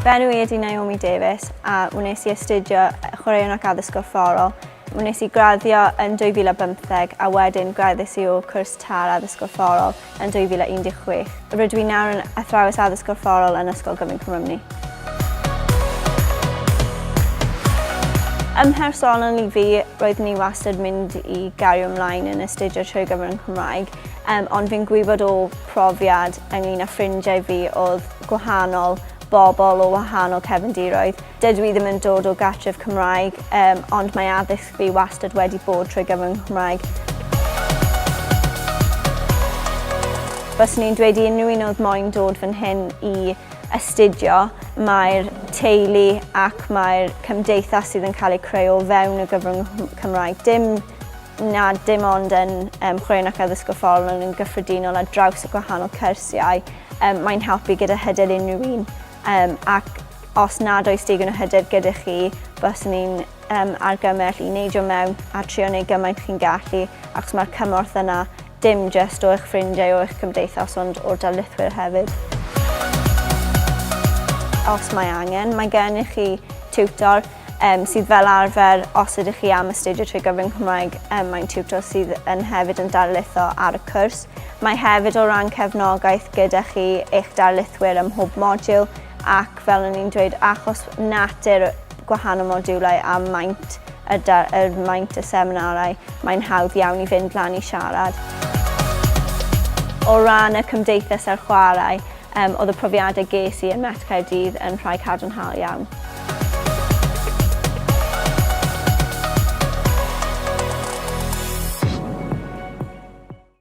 Fy enw i ydi Naomi Davies a wnes i astudio chwaraeon ac addysg gorfforol. Wnes i graddio yn 2015 a wedyn graddus i o cwrs tar addysg gorfforol yn 2016. Rydw i nawr yn Athrawes Addysg Gorfforol yn Ysgol Gyfun Cwmrymni. Ym mhersonol i fi, roeddwn i wastad mynd i gario ymlaen yn astudio trwy gyfer yn Cymraeg, um, ond fi'n gwybod o profiad ynglyn â ffrindiau fi oedd gwahanol bobl o wahanol cefndiroedd. Dydw i ddim yn dod o gartref Cymraeg, um, ond mae addysg Fi wastad wedi bod trwy gyfrwng y Nghymraeg. Byswn i'n dweud i unrhyw un oedd moyn dod fan hyn i astudio, mae'r teulu ac mae'r cymdeithas sydd yn cael eu creu o fewn y gyfrwng Cymraeg. Dim na dim ond yn um, chwaraeon ac addysg gorfforol ond yn gyffredinol ar draws y gwahanol cyrsiau. Um, mae'n helpu gyda hyder unrhyw un um, ac os nad oes digon o hyder gyda chi, bys ni'n am argymell i neidio mewn a trio neud gymaint chi'n gallu achos mae'r cymorth yna, dim jyst o eich ffrindiau o eich cymdeithas ond o'r darlithwyr hefyd. Os mae angen, mae gennych chi tiwtor um, sydd fel arfer, os ydych chi am astudio trwy gyfrwng Cymraeg, um, mae'n tiwtor sydd yn hefyd yn darlitho ar y cwrs. Mae hefyd o ran cefnogaeth gyda chi eich darlithwyr ym mhob modiwl ac fel o'n i'n dweud, achos natur gwahanol modiwlau a maint y da, er maint y seminarau, mae'n hawdd iawn i fynd lan i siarad. O ran y cymdeithas a'r chwarae, um, oedd y profiadau ges i yn Met Caerdydd yn rhai cadarnhaol iawn.